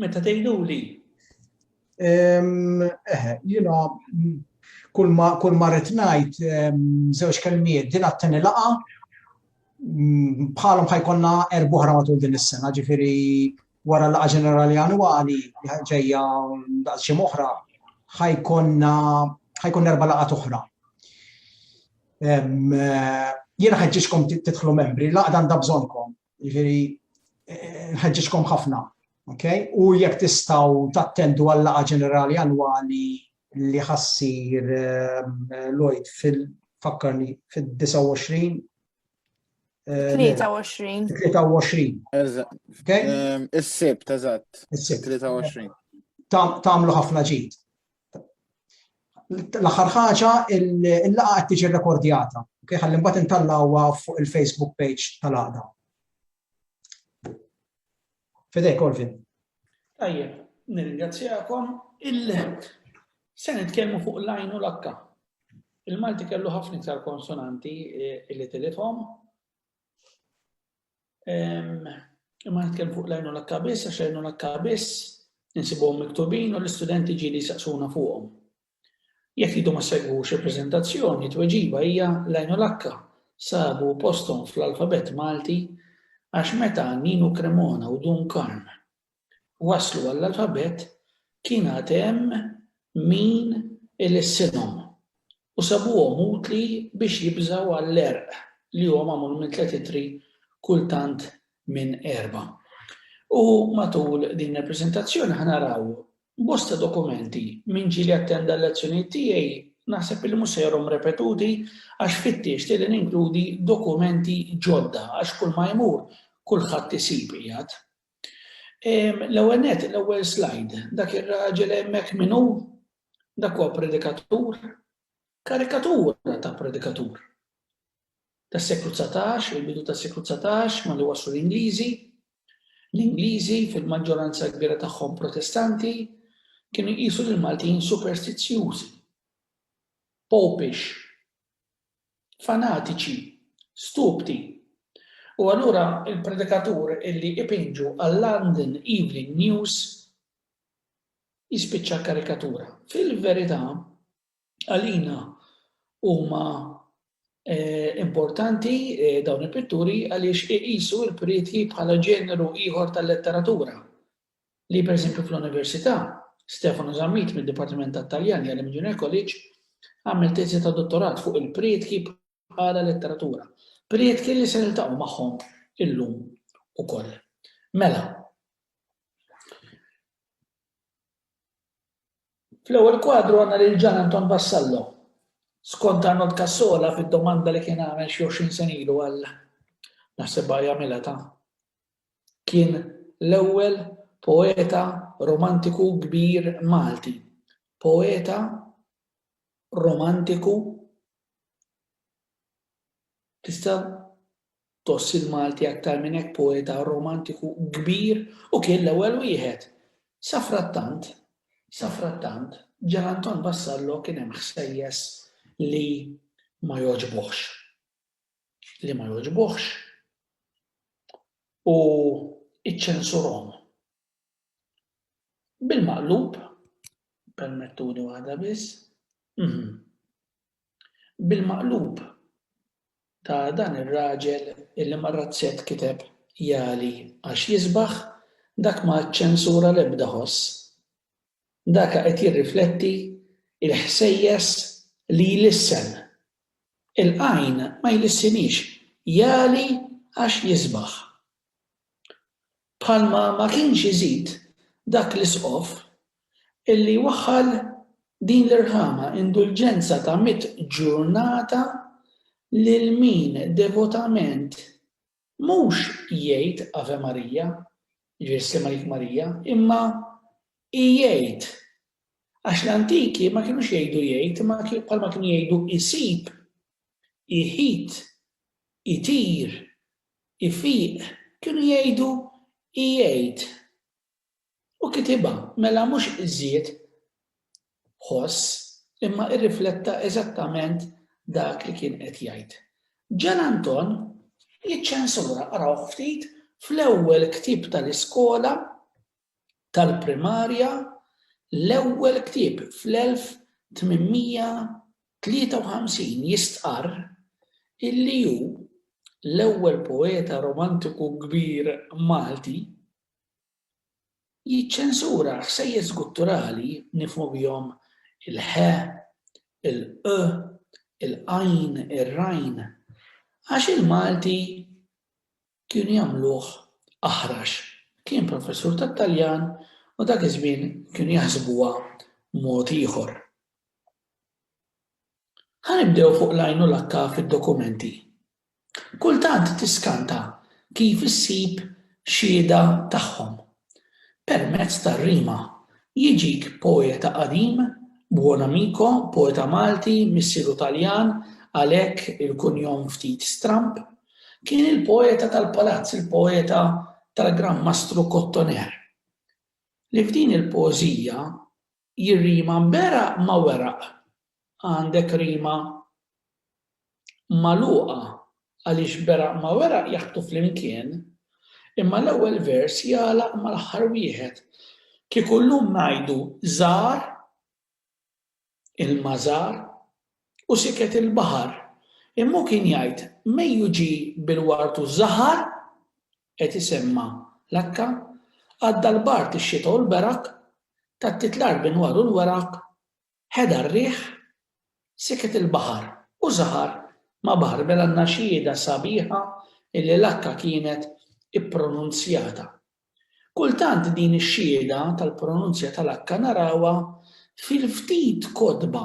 Meta tgħiduli? Eħe, jiena kull ma rrid ngħid żewġ kelmiet din għatteni laqa bħalhom ħajkonna erbuħra matul din is-sena, ġifieri wara laqa ġenerali annwali li ġejja daqs xi oħra ħajkonna ħajkun erba' laqgħat oħra. Jiena ħeġġiġkom tidħlu membri, laqgħa għandha bżonnkom Jiġifieri nħeġġiġkom ħafna, ok? U jekk tistgħu tattendu għal laqgħa ġenerali annwali li ħassir eh, Lloyd fil-fakkarni fil-29 23. 23. Is-sibt, eżatt. Is-sibt. 23. Tamlu ħafna ġid. L-aħħar ħaġa, il-laqgħa qed tiġi rekordjata. Ok, ħalli mbagħad intallawha fuq il-Facebook page tal-għaqda. Fidej, Colvin. Tajjeb, nirringrazzjakom. Se nitkellmu fuq l-għajn u l-akka. Il-Malti kellu ħafna iktar konsonanti eh, li tilithom. Imma nitkellem fuq lajnu l-akka biss, għax lajnu l-akka biss, nsibuhom miktubin u l-istudenti ġili saqsuna fuqhom. Jekk jidu ma segwux il-prezentazzjoni, tweġiba hija lajnu l-akka sabu postom fl-alfabet Malti għax meta Ninu Cremona u Dun Karm waslu għall-alfabett kien għad hemm min ilissinhom u sabuhom utli biex jibżgħu għall-għerq li huwa magħmul minn tliet ittri kultant minn erbgħa. U matul din il-preżentazzjoni ħa naraw bosta dokumenti min ġieli attenda l-lezzjonijiet tiegħi naħseb li mhux se jarhom repetuti għax fittixt li ninkludi dokumenti ġodda għax kull ma jmur kulħadd isib qiegħed L-ewwel nett, l-ewwel slide, dak ir-raġel hemmhekk min hu? Dak huwa predikatur, karikatura ta' predikatur. Tas-seklu 19, il-bidu tas-seklu 19, ma li waslu l-Ingliżi, l-Ingliżi fil-maġġoranza kbira tagħhom protestanti kienu jqisu lil Maltin superstizzjużi, popish, fanatiċi, stupdi. U allura il-predikatur illi ipinġu għal-London Evening News jispiċċa karikatura. Fil-verità, għalina huma eh, importanti eh, dawn il-pitturi għaliex iqisu il-prieti bħala ġeneru ieħor tal-letteratura li pereżempju fl-Università, Stefano Zammit mid-Dipartiment tat-Taljan jgħallem il-Junior College, għamel teżi ta' dottorat fuq il-priedki bħala letteratura, priedki li se niltaqgħu magħhom illum ukoll. Mela, fl-ewwel kwadru għandna lil Ġan Anton Vassallo, skont Arnold Cassola fid-domanda li kien għamel xi 20 sena ilu għal naħseb jagħmilha ta' Kien l-ewwel poeta romantiku kbir Malti, poeta romantiku Tista' tgħoss il-Malti aktar minn hekk poeta romantiku kbir u kien l-ewwel wieħed. Sa frattant, sa frattant, Ġan Anton Vassallo kien hemm ħsejjes li ma jogħġbuhx. li ma jogħġbuhx u iċċensurhom. Bil-maqlub, permettuni waħda biss, mhm. bil-maqlub ta' dan ir-raġel illi mar-razzett kiteb jali għax jisbaħ dak ma ċċensura l-ebda ħoss Daka qed jirrifletti il-ħsejjes li jlissen. Il-qajn ma jlissinix, jagħli għax jisbaħ. Bħalma ma kienx iżid dak l-isqof illi waħħal din l-irħama, indulġenza ta' mitt ġurnata lil min devotament Mhux jgħid Ave Maria, jiġifieri Ssir Malik Marija, imma igħid. Għax l-antiki ma kinux jgħidu jgħid imma bħalma kienu jgħidu isib, iħit, itir, ifiq, kienu jgħidu igħid. U kitibha, mela mhux żied ħoss, imma irrifletta eżattament dak li kien qed jgħid. Gian Anton jiċċensura, arawh ftit, fl-ewwel ktieb tal-iskola tal-primarja, l-ewwel ktieb fl-1853 jistqarr illi hu l-ewwel poeta romantiku kbir Malti, Jiċċensura ħsejjes gutturali nifhmu bihom il-h, il-q, il-qajn, ir-rajn, għax il-Malti kienu jagħmluh aħrax. Kien professur tat-Taljan u dak iż-żmien kienu jaħsbuha mod ieħor. Ħa nibdew fuq l-għajn u l-akka fid-dokumenti. Kultant tiskanta kif issib xhieda tagħhom. Permezz tar-rima, jiġik poeta qadim, buon amico, poeta Malti, missieru Taljan, għalhekk il-kunjom ftit stramb. Kien il-poeta tal-palazz, il-poeta tal-Gran Mastru Cotoner, li f'din il-poeżija Jirrima mberaq ma' weraq. Għandek rima magħluqa għaliex beraq ma' weraq jaħbtu flimkien, imma l-ewwel vers jagħlaq mal-aħħar wieħed. Kieku llum ngħidu żar ilma żar u siket il-baħar, imma hu kien jgħid mejju ġie bil-ward u żahar qed isemma' l-akka, għadda l-bard, ix-xita u l-berak, tattiet l-art b'inwar u l-weraq, ħeda r-riħ, siket il-baħar, u żahar ma' baħar mela n-naxxieda sabiħa illi l-akka kienet ippronunzjata. Kultant din ix-xhieda tal-pronunzja tal-akka narawha fil-ftit kotba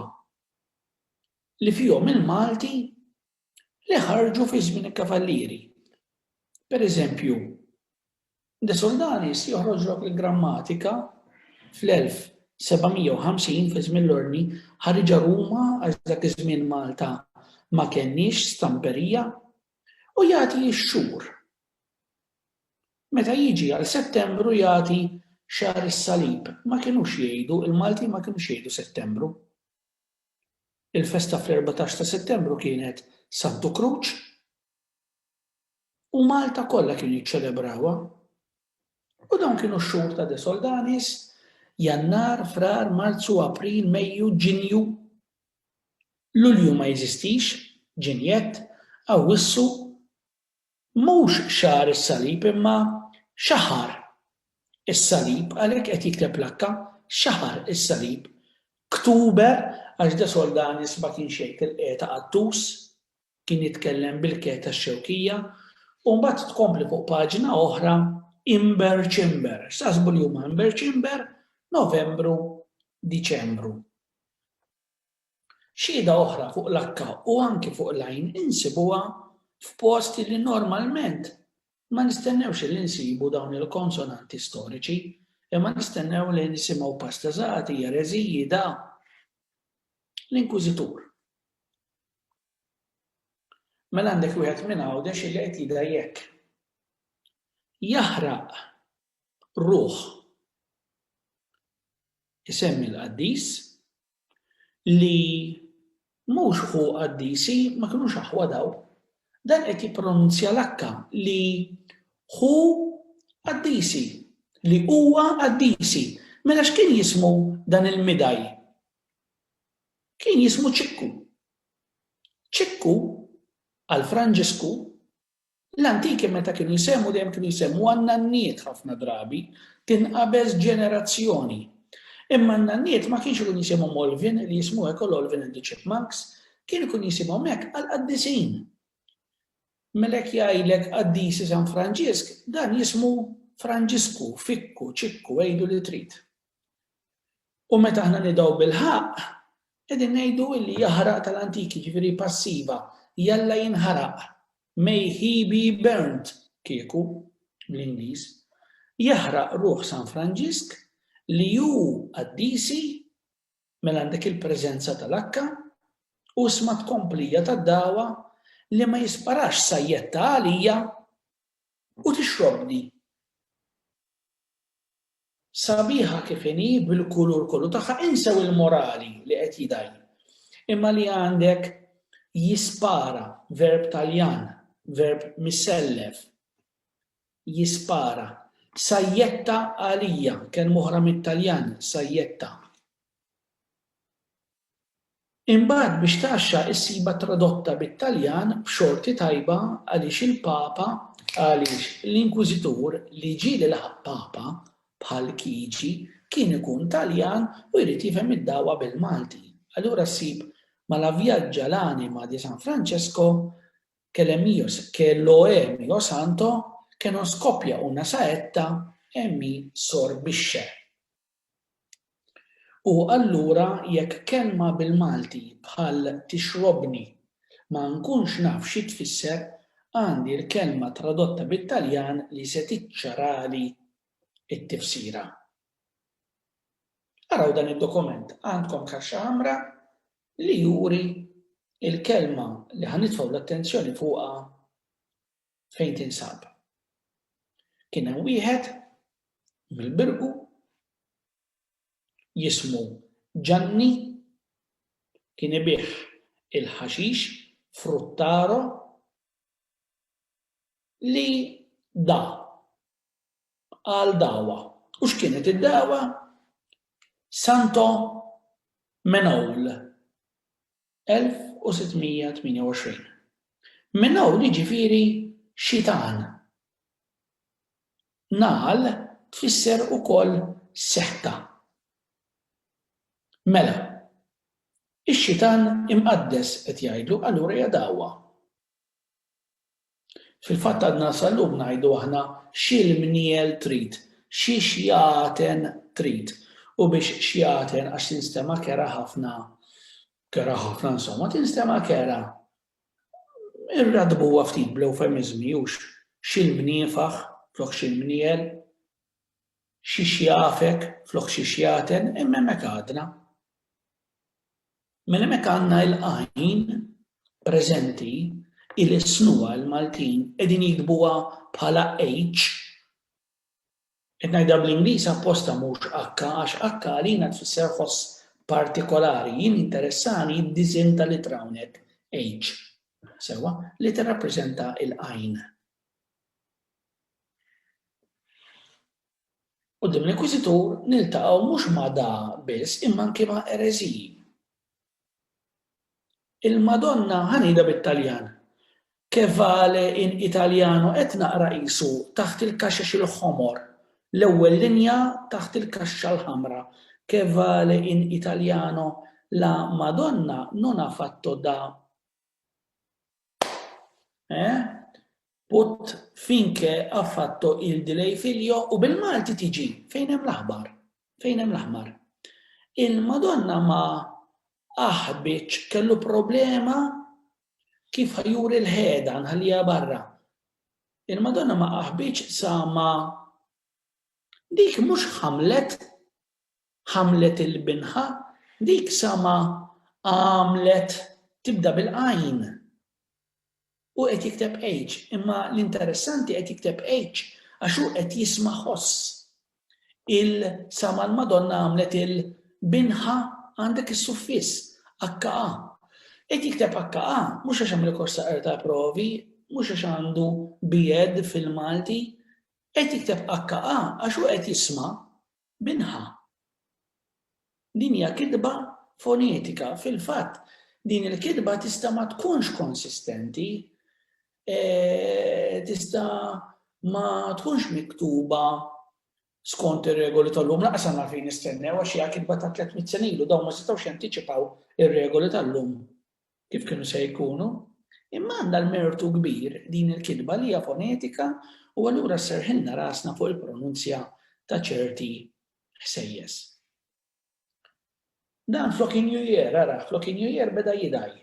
li fihom il-Malti li ħarġu fi żmien il-kavallieri. Per eżempju, De Soldanis joħroġ lok il-grammatika fl-1750 fi żmien l-ordni ħariġa Ruma għax dak iż-żmien Malta ma kenniex stamperija u jagħti x-xhur. Meta jiġi għal Settembru jagħti xahar is-salib, ma kinux jgħidu, il-Maltin ma kinux jgħidu Settembru. Il-festa fl-erbatax ta' Settembru kienet Santu Kruċ u Malta kollha kienu jiċċelebrawha. U dawn kienu x-xhur ta' De Soldanis, Jannar, Frar, Marzu, April, Mejju, Ġinju. Lulju ma jeżistix, Ġinjett, Awwissu, Mhux xahar is-salib imma xahar is-salib għalhekk qed jikteb l-akka, xahar is-salib. Ktuber għax de Soldanis ma kienx jgħid il-qegħda Qattus, kien jitkellem bil-ke tax-Xewkija u mbagħad tkompli fuq paġna oħra Imber Ċimber. X'taħsbu li huma Imber Ċimber? Novembru, Diċembru. Xhieda oħra fuq l-akka u anki fuq l-għajn insibuha f'posti li normalment ma nistennewx li nsibu dawn il-konsonanti storiċi, imma nistennew li nisimgħu pastazati, jereziji, da. L-inkwiżitur. Mela għandek wieħed minn Għawdex li qed jidha jekk. Jaħraq ruħ isemmi l-qaddis li mhux ħu qaddisi ma kinux aħwa daw. Dan qed jippronunzja l-akka li ħu qaddisi, li huwa qaddisi. Mela x'kien jismu dan il-midaj? Kien jismu Ċikku. Ċikku għal Franġisku L-antiki meta kienu jsemmu dejjem kienu jsemmuha n-nanniet ħafna drabi tinqabeż ġenerazzjoni. Imma n-nanniet ma kienx ikun jisimhom Olvin li jismu hekk ol Olvin and the Chipmunks, kien ikun jisimhom hekk għall-qaddisin. Mela jekk jgħidlek qaddisi San Franġisk, dan jismu Franġisku, Fikku, Ċikku, għidu li trid. U meta aħna nidaw bil-ħaq, qegħdin ngħidu illi jaħraq tal-antiki, ġifieri passiva, jalla jinħaraq. May he be burnt, kieku, bl-Ingliż. Jaħraq ruħ San Franġisk li hu qaddisi mela għandek il-preżenza tal-akka u sma tkomplija tad-dawa li ma jisparax sajjetta għalija u tixrobni. Sabiħa kif inhi bil-kulur kollu tagħha insew il-morali li qed jidgħi. Imma li għandek jispara, verb Taljan, verb misellef, jispara. Sajjetta għalija, kelma oħra mit-Taljan, sajjetta. Imbagħad biex tgħaxxa issibha tradotta bit-Taljan b'xorti tajba għaliex il-Papa għaliex l-Inkwiżitur li ġie li laħaq Papa bħal Kiġi kien ikun Taljan u jrid jifhem id-dagħwa bil-Malti. Allura ssib ma' La viaggia l'anima di San Francesco che le mio che lo è mio santo che non scoppia una saetta e mi sorbisce. U allura jekk kelma bil-Malti bħal tixrobni ma nkunx naf xi tfisser, għandi l-kelma tradotta bit-Taljan li se tiċċarali t-tifsira. Araw dan id-dokument, għandkom kaxxa ħamra li juri l-kelma li ħa nitfgħu l-attenzjoni fuqha fejn tinsab. Kien hemm wieħed mill-Birqu jismu Ġanni kien ibigħ il-ħaxix Fruttaro li da għal dawa. U x'kienet id-dawa? Santo Menowl. 1628. Minn hawn jiġifieri xitan. Nagħal tfisser ukoll setta. Mela, ix-xitan imqaddes qed jgħidlu allura hija dagħwa. Fil-fatt għadna sal-lum ngħidu aħna x'il-mniel trid, xi xjaten trid. U biex xjaten għax tinstema' kerha ħafna, kerha ħafna insomma, tinstema' kerha. Irraddbuha ftit bl-ewfemiżmi hux x'il-mniefaħ flok x'il-mniel, xi xjafek flok xi xjaten, imma hemmhekk għadna. Mela hemmhekk għandna il-għajn preżenti hi li s-snuha l-Maltin qegħdin jiktbuha bħala H. Qed ngħidha bl-Ingliż apposta mhux H għax H għalina tfisser ħoss partikolari. Jien jinteressani d-disinn tal-ittra hawnhekk H. Sewwa, li tirrappreżenta l-għajn. Quddiem l-Inkwiżitur niltaqgħu mhux ma' da biss imma anki ma' ereżiji. Il-Madonna ħa ngħidha bit-Taljan, Che vale in italiano qed naqra qisu taħt il-kaxex il-ħomor, l-ewwel linja taħt il-kaxxa l-ħamra, Che vale in italiano la Madonna non ha fatto da eh? Put finke ha fatto il di lei figlio u bil-Malti tiġi fejn hemm l-aħbar. Fejn hemm l-aħbar. Il-Madonna ma aħbitx kellu problema kif ħajuri l-ħeda nħallija barra. Il-Madonna ma aħbitx sa ma dik mhux ħamlet ħamlet il-binħa, dik sa ma għamlet tibda bil-qajn. Hu qed jikteb H, imma l-interessanti qed jikteb H għax hu qed jisma' ħoss. Il sa ma l-Madonna għamlet il binha għandek is-suffiss, HA. Qed jikteb HA mhux għax hemm rikors ta' qerda provi, mhux għax għandu bied fil-Malti. Qed jikteb HA għax hu qed jisma' Minħa. Din hija kitba fonetika. Fil-fatt, din il-kitba tista' ma tkunx konsistenti, tista' ma tkunx miktuba skont ir-regoli tal-lum. Lanqas għandna għalfejn nistennew għax hija kitba ta' tliet mitt sena ilu, dawn ma setgħux jantiċipaw ir-regoli tal-lum. kif kienu se jkunu, imma għandha l-mertu kbir din il-kitba li hija fonetika u allura sserħilna rasna fuq il-pronunzja ta' ċerti ħsejjes. Dan flok injujer, ara, flok injujer beda jidaj.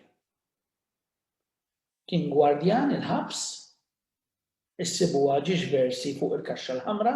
Kien gwardjan il-ħabs, issibu għagġiġ versi fuq il-kaxxa l-ħamra,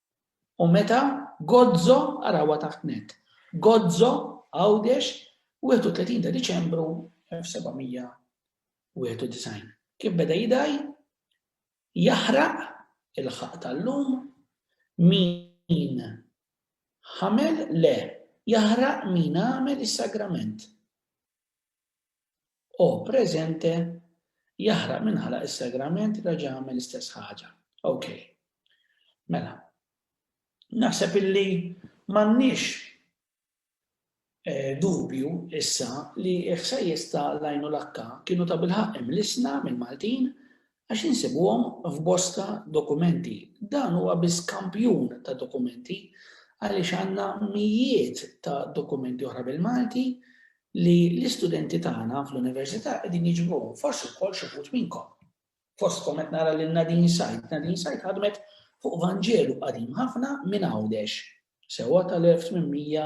u meta Gozo, arawha taħt net, Gozo, Għawdex, 31 ta' Diċembru 1791. Kif beda jidgħi, jaħraq il-ħaqq tal-lum, min ħamel, le, jaħraq min għamel is-sagrament. O presente Jaħraq min ħalaq is-sagrament reġa' għamel l-istess ħaġa. Ok. Mela. Naħseb illi m'għandniex dubju issa li l-ħsejjes ta' l-Għajnulakka kienu tabilħaqq imlissna mill-Maltin għax insibuhom f'bosta dokumenti. Dan huwa biss kampjun ta' dokumenti għaliex għandna mijiet ta' dokumenti oħra bil-Malti li l-istudenti tagħna fl-università qegħdin jiġbruhom, forsi wkoll xi wħud minnkom. Fostkom qed nara lil Nadine Said, Nadine Said ħadmet fuq Vanġelu qadim ħafna minn Għawdex, sewwa tal-1800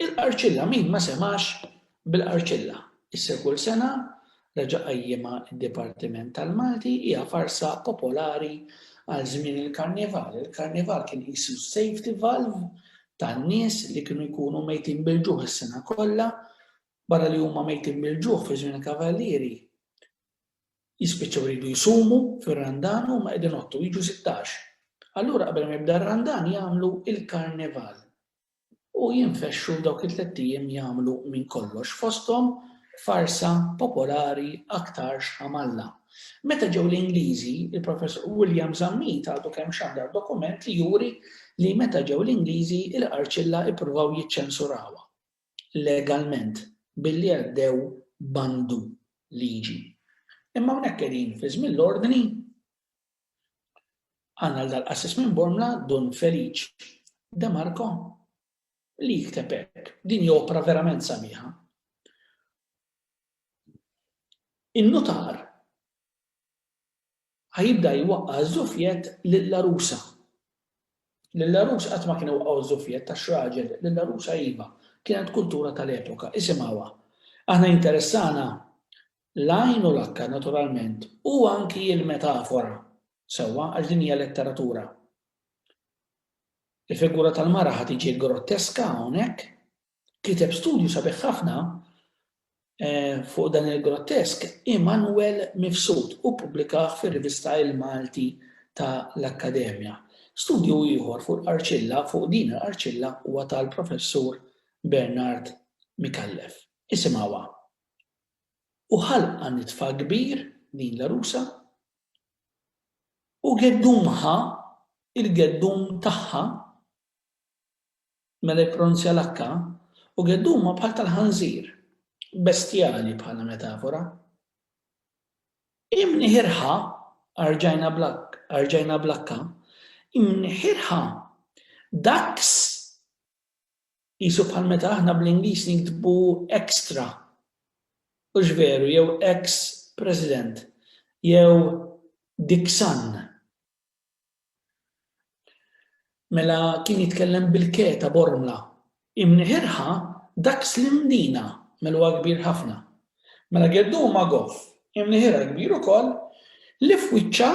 Il-qarċilla min ma semax bil-qarċilla. Issa kull sena reġa' qajjimha d-Dipartiment tal-Malti hija farsa popolari għal żmien il-Karnival. Il-Karnival kien qisu s-safety valve tan-nies li kienu jkunu mejtin bil-ġuħ is-sena kollha, barra li huma mejtin bil-ġuħ fi żmien il-Kavallieri jispiċċaw iridu jsumu fir-Randan u huma qegħdin jgħottu jiġu sittax. Allura qabel ma jibda r-Randan jagħmlu l-Karnival. u jinfexxu dawk it-tlett ijiem jagħmlu minn kollox fosthom farsa popolari aktarx ħamalla. Meta ġew l-Ingliżi, il-Professur William Zammit għadu kemm xandar dokument li juri li meta ġew l-Ingliżi il-Qarċilla ippruvaw jiċċensurawha legalment billi għaddew bandu liġi. Imma hawnhekk qegħdin fi żmien l-ordni Għandna l-Daqsisqis minn Bormla Dun Feliċ De Marco li jikteb hekk, din hi opra verament sabiħa. In-nutar ħajibda jwaqqa' ż-żufjett lill-għarusa. Lill-għarus qatt ma kien iwaqqgħu ż-żufjett għax raġel, lill-għarusa iva, kienet kultura tal-epoka, isimgħuha. Aħna jinteressana L-għajn u l-akka, naturalment, u anki l-metafora, sewwa, għax din hija letteratura. Il-figura tal-mara ħa tiġi grotteska hawnhekk. Kiteb studju sabiħ ħafna eh, fuq dan il-grottesk Immanuel Mifsud u pubblikaħ fir-rivista Il-Malti ta' l-Akkademja. Studju ieħor fuq l-arċilla, fuq din l-arċilla huwa tal-professur Bernard Mikallef. Isimgħuha. u ħalqha nitfa kbir, din l-għarusa, u geddumha, il-geddum tagħha, mela jippronunzja l-H, u geddumha bħal tal-ħanżir, bestjali bħala metafora. Imniħirha, arġajna bl-H, arġajna bl-H, imniħirha, ducks, Qisu bħal meta aħna bl-Ingliż niktbu extra, hux veru, jew ex President, jew Dixon. Mela kien jitkellem bil-keta bormla. Imniħirha dak Slim Dina, mela huwa kbir ħafna. Mela geddu huma goff, imniħirha kbir ukoll, li f'wiċċha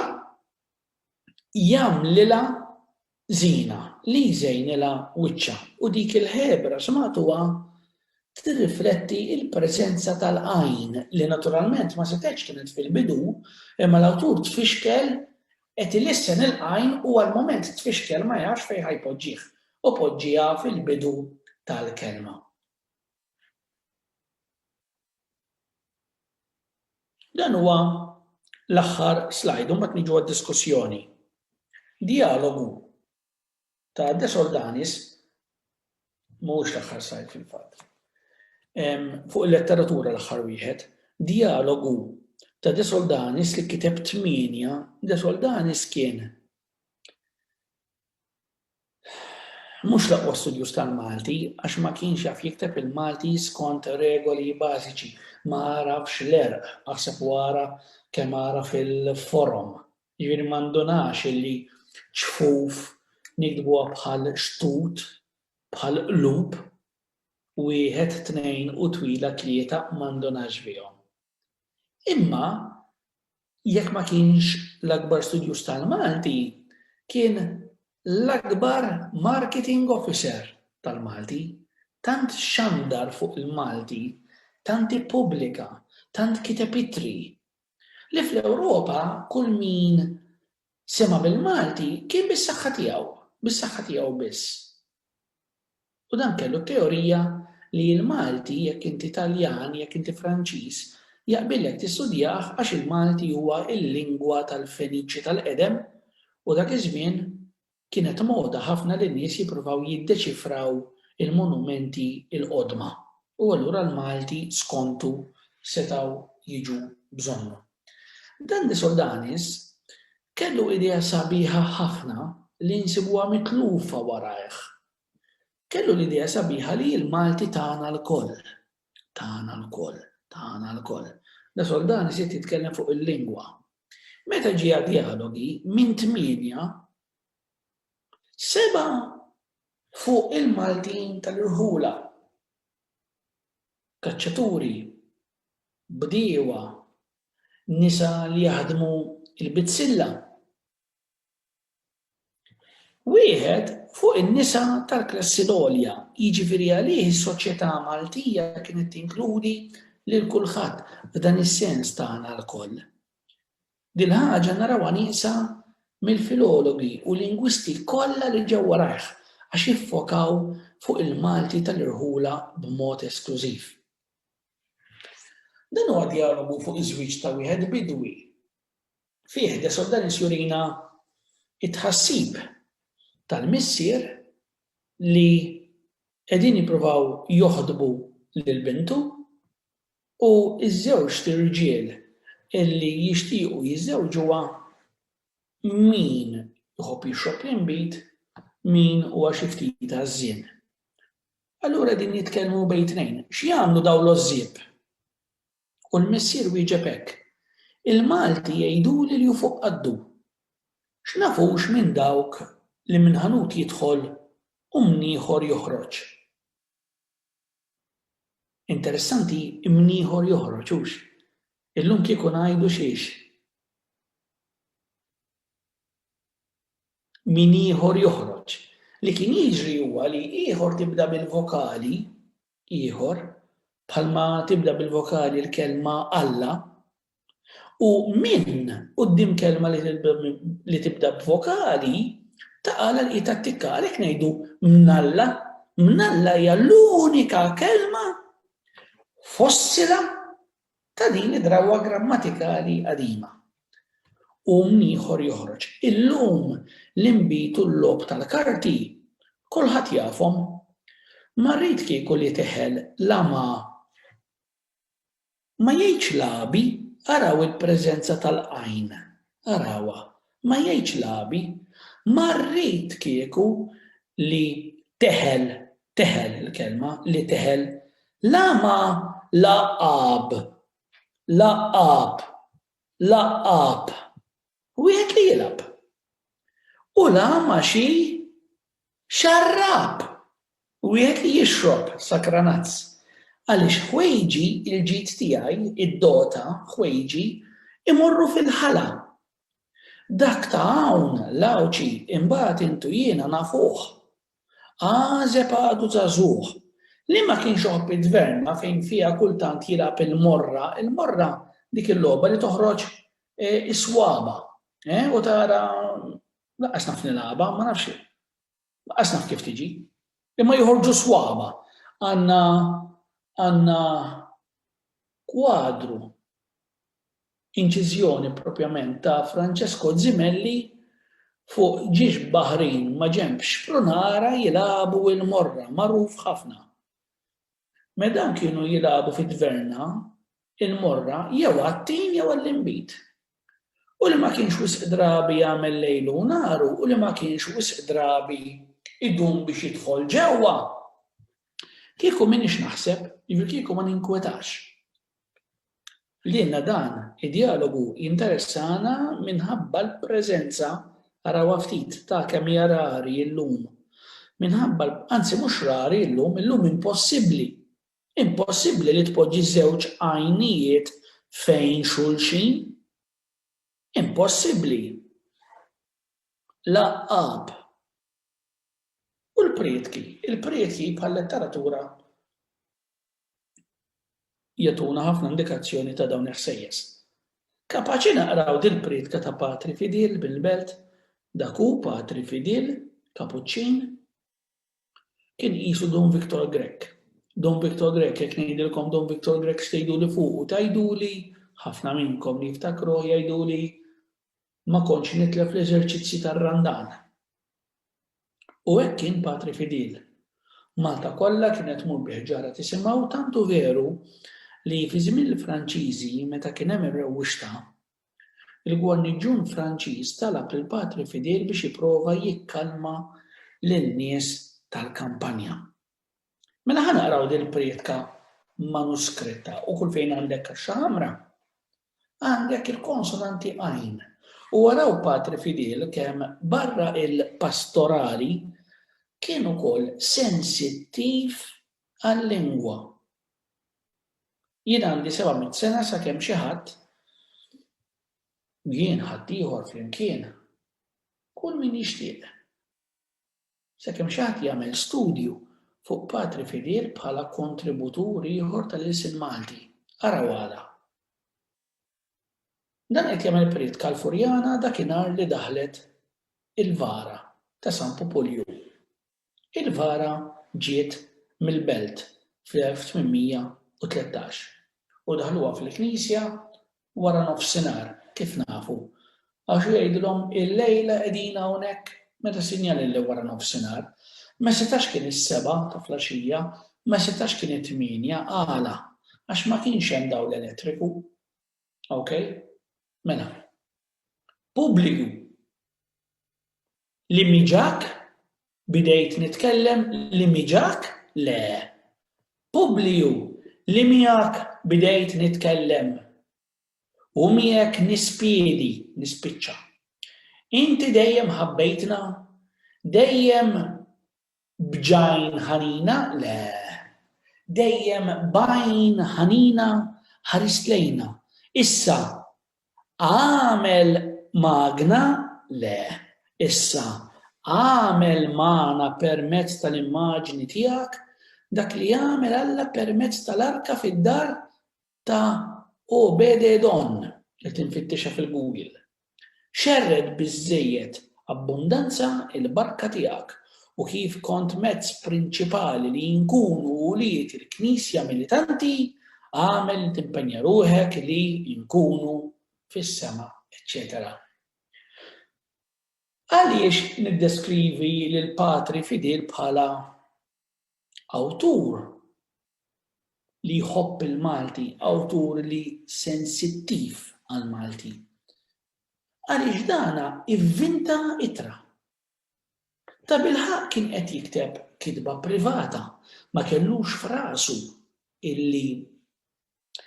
jagħmlilha żiena, li jżejnilha wiċċha, u dik il-ħebra xmagħtuha tirrifletti l-preżenza tal-għajn, li naturalment ma setgħetx kienet fil-bidu, imma l-awtur tfixkel qed ilissen il-għajn u għall-mument tfixkel ma jafx fejn ħa jpoġġih, u poġġiha fil-bidu tal-kelma. Dan huwa l-aħħar slide u mbagħad niġu għad-diskussjoni. Dijalogu ta' De Sordanis mhuwiex l-aħħar slide fil-fatt. Fuq il-letteratura l-aħħar wieħed, dijalogu ta' De Soldanis li kiteb tmienja, De Soldanis kien Mhux l-aqwa studjuż tal-Malti għax ma kienx jaf jikteb il-Malti skont regoli bażiċi, ma għarafx l-għerq, aħseb u ara kemm għaraf il-forom. Jiġifieri ma ndunax illi ċfuf niktbuha bħal xtut, bħal qlub, wieħed, tnejn u twila tlieta ma ndunax bihom. Imma jekk ma kienx l-akbar studjuż tal-Malti, kien l-akbar marketing officer tal-Malti, tant xandar fuq il-Malti, tant ippubblika, tant kiteb ittri, li fl-Ewropa kull min sema' bil-Malti kien bis-saħħa tiegħu, bis-saħħa tiegħu biss. U dan kellu t-teorija li il-Malti, jekk inti Taljan, jekk inti Franċiż, jaqbillek tistudjah għax il-Malti huwa l-lingwa tal-Feniċi tal-qedem u dak iż-żmien kienet moda ħafna li n-nies jippruvaw jiddeċifraw il-monumenti l-qodma u allura l-Malti skontu setgħu jiġu bżonnhom. Dan li Soldanis kellu idea sabiħa ħafna li nsibuha mitlufa warajh. Kellu l-idea sabiħa li l-Malti tagħna lkoll. Tagħna lkoll. Tagħna lkoll. Da Soldanis qed jitkellem fuq il-lingwa. Meta ġie għad-djalogi minn tmienja seba' fuq il-Maltin tal-irħula. Kaċċaturi bdiewa, nisa li jaħdmu l-bizzilla. Wieħed fuq in-nisa tal-klassi l-għolja, jiġifieri għalih is-soċjetà Maltija kienet tinkludi lil kulħadd f'dan is-sens tagħna lkoll. Dil-ħaġa narawha nieqsa mill-filologi u lingwisti kollha li ġew warajh għax iffokaw fuq il-Malti tal-irħula b'mod esklużiv. Dan huwa djalogu fuq iż-żwieġ ta' wieħed bidwi. Fih De Sordalis jurina t-tħassib tal-missier li qegħdin jippruvaw joħdbu lil bintu u ż-żewġt irġiel li jixtiequ jiżżewġuha min iħobb jixrob l-inbid, min huwa xi ftit għażżien. Allura qegħdin jitkellmu bejn tnejn. X'jagħmlu dawn l-għożżieb? U l-missier wieġeb hekk, Il-Malti jgħiduli li hu fuq qaddu. X'nafux minn dawk li minn ħanut jidħol u minn ieħor joħroġ. Interessanti minn ieħor joħroġ hux. Illum kieku ngħidu xiex. min ieħor joħroġ. Li kien jiġri huwa li ieħor tibda bil-vokali ieħor, bħalma tibda bil-vokali l-kelma Alla, u min quddiem kelma li tibda b'vokali taqa' l-qiegħed attikka għalhekk ngħidu mnalla. Mnalla hija l-unika kelma fossila ta' din id-drawwa grammatikali qadima. Qum ieħor joħroġ. Illum l-inbid u l-logħob tal-karti kulħadd jafhom. Ma rrid kieku li teħel la ma ma jgħidx lagħbi araw il-preżenza tal-qajn Arawha, ma jgħidx lagħbi. Ma rrid kieku li teħel, teħel il-kelma, li teħel la ma lagħab, lagħab, lagħab, wieħed li jilgħab, u la ma xi Xarrab! Wieħed li jixrob sakranazz. Għaliex ħwejġi, il-ġid tiegħi, id-dota, ħwejġi, imorru fil-ħala. Dak ta' hawn, l-Għawdxi, imbagħad int u jiena nafuh. Għażeb għadu żagħżugħ. Li ma kienx iħobb it-tverna fejn fiha kultant jilgħab il-morra, il-morra dik il-logħba li toħroġ is-swaba', eh, u tara Lanqas naf nilgħabha, ma nafx lanqas naf kif tiġi. Imma joħorġu swaba. Għandna għandna kwadru inċiżjoni propjament ta' Francesco Zimelli fuq ġiex baħrin ma' ġenb xprunara jilagħbu il-morra, magħruf ħafna. Me dawn kienu jilagħbu fi tverna, il-morra, jew għat-tin jew għall-inbid. U li ma kienx wisq drabi jagħmel lejlu u naru u li ma kienx wisq drabi idum biex jidħol ġewwa. Kieku m'iniex naħseb, jiġifieri kieku ma ninkwetax. Lilna dan id-djalogu jinteressana minħabba l-preżenza, arawha ftit, ta' kemm hija rari llum. Minħabba, anzi mhux rari llum, illum impossibbli. Impossibbli li tpoġġi żewġ għajnijiet fejn xulxin. Impossibbli. L-għaqqab. U l-prietki, il-prietki bħal-letteratura jagħtuna ħafna indikazzjoni ta' dawn il-ħsejjes. Kapaċi naqraw dil-prietka ta' Patri Fidil bil-belt, dak hu Patri Fidil, Kapuċċin, kien qisu Dun Viktor Grech. Dun Viktor Grech, jekk ngħidilkom Dun Viktor Grech x'tgħiduli fuqu, tgħiduli ħafna minnkom li jiftakru jgħiduli ma kontx nitlef l-eżerċizzji tar-Randan. U hekk kien Patri Fidil. Malta kollha kienet tmur bi ħġarha tisimgħu tant hu veru li fi żmien il-Franċiżi meta kien hemm ir-rewwixta, il-gwarniġġun Franċiż talab lil Patri Fidil biex jipprova jikkalma lin-nies tal-kampanja. Mela ħa naqraw dil-prietka manuskritta u kull fejn għandek kaxxa ħamra, Għandek il-konsonanti għajn. U araw Patri Fidel kemm barra il-pastorali kien ukoll sensittiv għal-lingwa. Jien għandi 700 sena sakemm xi ħadd jien ħaddieħor flimkien kull min jixtieq Sakemm xi ħadd jagħmel studju fuq patri fidel bħala kontributur ieħor tal-ilsien Malti. Araw għala. Dan qed jagħmel prietka l-Furjana dakinhar li daħlet il-vara ta' San Pupulju. Il-vara ġiet mill-Belt fl-1813 u daħluha fil-knisja wara nofsinhar, kif nafu, għax hu jgħidilhom illejla qegħdin hawnhekk, meta sinjali li wara nofsinhar. Ma setax kien is-sebgħa ta' flaxija, ma setax kien it-tmienja, għala? Għax ma kienx hemm dawl elettriku. Ok? Mela. Pubbliku. Li miġak Bidejt nitkellem li miġak? Le. Publiju, li miegħek bidejt nitkellem. U miegħek nispiedi, nispiċċa. Inti dejjem ħabbejtna? Dejjem b'għajn ħanina? Le. Dejjem b'għajn ħanina ħarist lejna. Issa, Agħmel magna? Le. Issa, agħmel magħna permezz tal-immaġni tiegħek dak li għamel Alla permezz tal-arka fid-dar ta' Obed-Edon, qed infittixha fil-Google. Xerred biżżejjed Abbundanza il-barka tiegħek u kif kont mezz prinċipali li nkunu ulied il-Knisja militanti, agħmel li timpenja ruħek li nkunu fis-sema, eċċetera Għaliex niddeskrivi lil patri fidil bħala awtur li jħobb il-Malti, awtur li sensittiv għal-Malti? għaliex dan ivvinta ittra. Tabilħaqq kien qed jikteb kitba privata, ma kellux f'rasu illi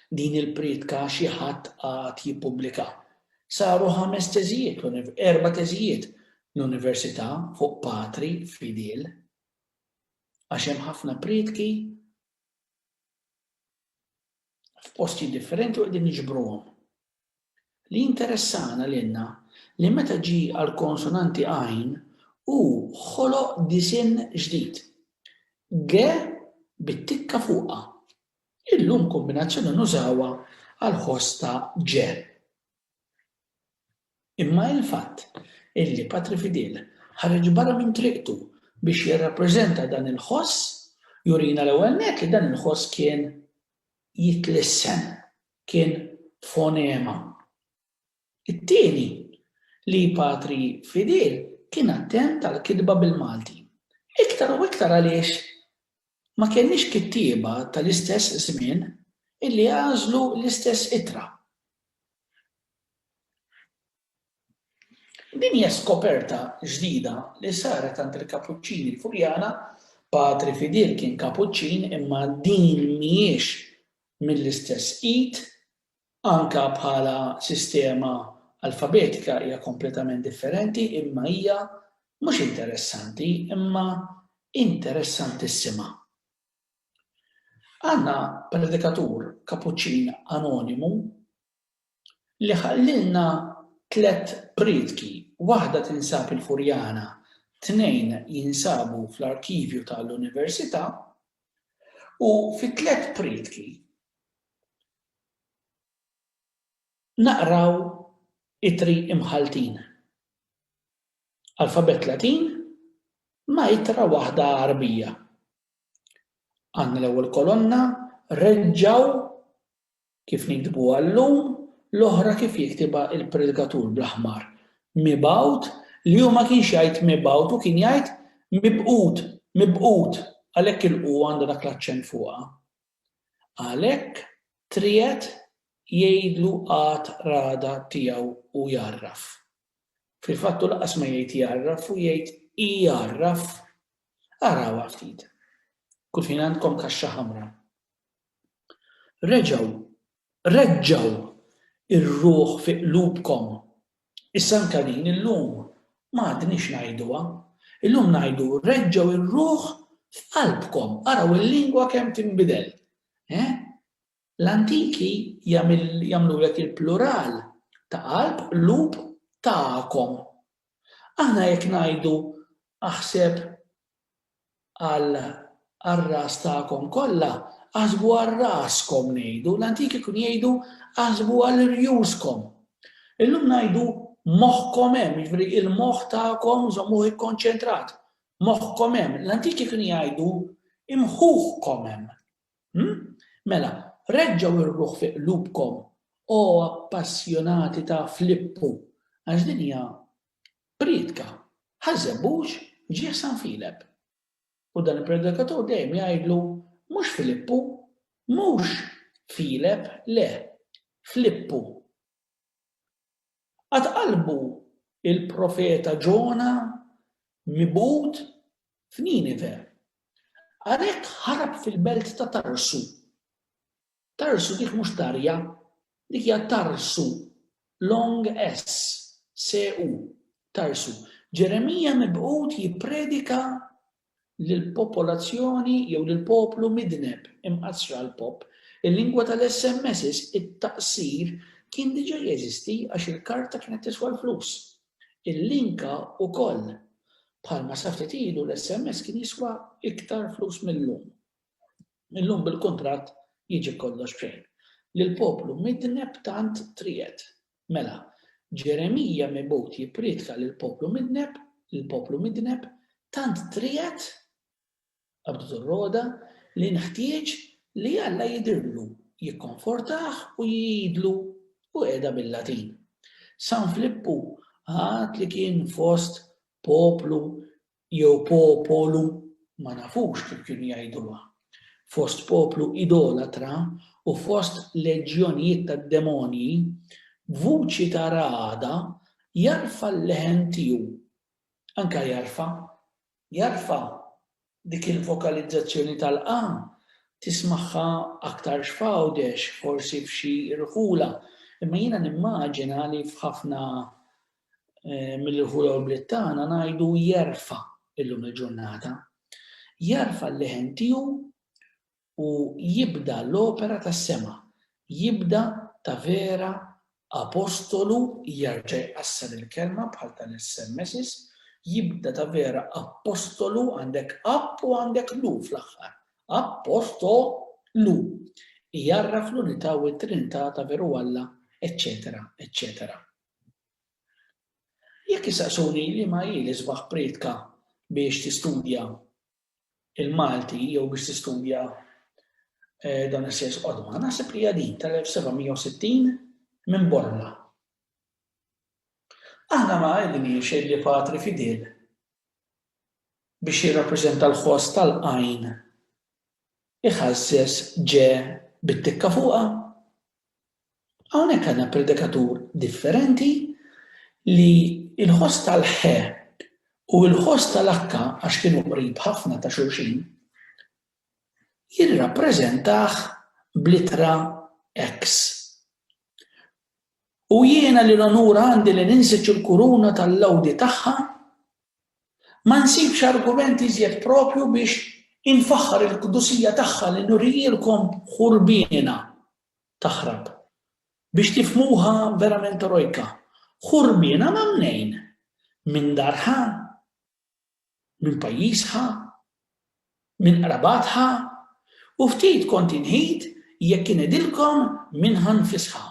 din il-prietka xi ħadd għad jippubblika. Saru ħames teżijiet, erba' teżijiet l-università fuq patri fidil. Għax hemm ħafna prietki f'posti differenti u qegħdin niġbruhom. Li jinteressana lilna li meta ġie għall-konsonanti għajn hu ħoloq disinn ġdid, g bit-tikka fuqha. Illum kombinazzjoni nużawha għall-ħoss ta' ġe. Imma il-fatt illi Patri Fidil ħareġ barra minn triqtu biex jirrappreżenta dan il-ħoss jurina l-ewwel nett li dan il-ħoss kien jitlissen. kien fonema. It-tieni, li Patri Fidil kien attent għall-kitba bil-Malti. Iktar u iktar għaliex ma kellniex kittieba tal-istess żmien illi għażlu l-istess ittra. Din hija skoperta ġdida li saret għand il-Kapuċċini l-Furjana, Patri Fidil kien Kapuċċin imma din mhijiex mill-istess id, anke bħala sistema alfabetika hija kompletament differenti imma hija mhux interessanti imma interessantissima. Għandna predikatur Kapuċċin anonimu Li ħallilna tliet prietki, waħda tinsab il-Furjana, tnejn jinsabu fl-arkivju ta' l-Università, u fit-tliet prietki naqraw ittri imħalltin, alfabett Latin ma' ittra waħda Għarbija. Għandna l-ewwel kolonna reġgħu Kif niktbuha llum, l-oħra kif jiktibha l-predikatur bl-aħmar, mibgħut, li hu ma kienx jgħid mibgħut, hu kien jgħid mibqut, mibqut, għalhekk il-qu għandha dak l-aċċent fuqha. Għalhekk triegħed jgħidlu għad ragħda tiegħu u jgħarraf. Fil-fatt hu lanqas ma jgħid jgħarraf, hu jgħid igħarraf. Arawha ftit. Kulħin għandkom kaxxa ħamra. Reġgħu, reġġgħu r-ruħ fi qlubkom. Issa anke din illum ma għadniex ngħiduha. Illum ngħidu reġġgħu r-ruħ f'qalbkom. Araw il-lingwa kemm tinbidel. Eh? L-antiki jagħmlulek il-plural ta' qalb, qlub, tagħkom. Aħna jekk ngħidu aħseb, għar-ras tagħkom kollha, aħsbu għal raskom ngħidu, l-antiki kienu jgħidu aħsbu għal rjuskom. Illum ngħidu moħħkom hemm, jiġri il-moħħ tagħkom żommuh ikkonċentrat. Moħħkom hemm, l-antiki kienu jgħidu imħuħkom hemm. Hmm? Mela, reġġaw ir-ruħ fi qlubkom o appassjonati ta' Flippu, għax din hija Priedka, Ħaż-Żebbuġ ġie San Filep. U dan il-predikatur dejjem jgħidlu, Mhux Filippu, mhux Filep, le, Flippu. Qatt qalbu l-profeta Ġona mibgħud f'Ninive. Għalhekk ħarab fil-belt ta' Tarsu. Tarsu dik mhux tarja, dik hija tarsu, long s, se u, tarsu. Ġeremija mibgħut jippredika lill-popolazzjoni jew lill-poplu midneb, imqassra l-pop. Il-lingwa tal-SMSs, it-taqsir, kien diġà jeżisti għax il-karta kienet tiswa l-flus. Il-linka wkoll. Bħalma sa ftit ilu l-SMS kien jiswa iktar flus mil-lum. Illum bil-kuntratt jiġi kollox b'xejn. Lill-poplu midneb tant triegħed. Mela, Ġeremija mibgħut jipprietka lill-poplu midneb, lill-poplu midneb, tant triegħed, qabdet ir-rogħda, li nħtieġ li Alla jidhirlu, jikkonfortah u jgħidlu, u qiegħda bil-Latin. San Flippu għad li kien fost poplu jew po-po-lu, ma nafux kif kienu jgħiduha, fost poplu idolatra u fost leġjonijiet tad-demonji, b'vuċi ta' ragħada jarfa' l-leħen tiegħu. Anke jarfa', jarfa', dik il-vokalizzazzjoni tal-qa tismagħha aktarx f'Għawdex, forsi f'xi rħula, imma jiena nimmaġina li f'ħafna mill ħula u bliet tagħna ngħidu jerfa' illum il-ġurnata. Jerfa' l-leħen tiegħu u jibda l-opera tas-sema, jibda ta' vera apostolu jerġa' jqassar il-kelma bħal tal-SMSs, jibda ta' vera apostolu għandek app u għandek lu fl-aħħar. Apostolu. Jarraf l-unità u t-trinità ta' veru Alla, eċċetera, eċċetera. Jekk issaqsuni liema hi l-isbaħ prietka biex tistudja l-Malti jew biex tistudja dawn is-sejs qodma, naħseb li hija din tal-1760 minn Bormla. Aħna ma għedniex li Patri Fidel biex jirrappreżenta l-ħoss tal-qajn iħażżeż ġe bit-tikka fuqha Hawnhekk għandna predikatur differenti li l-ħoss tal-ħe u l-ħoss tal-akka għax kienu qrib ħafna ta' xulxin, jirrappreżentah bl-ittra X. U jiena li l-onur għandi li ninsiġ il-kuruna tal-lgħudi tagħha Ma nsibx argument iżjed proprju biex infaħħar il-qdusija tagħha li nurijilkom ħurbiena taħrab. Biex tifhmuha verament erojka, ħurbiena ma' mnejn? Minn darha? Minn pajjiżha? Minn qrabatha? U ftit kont inghid jekk ingħidilkom minnha nfisha.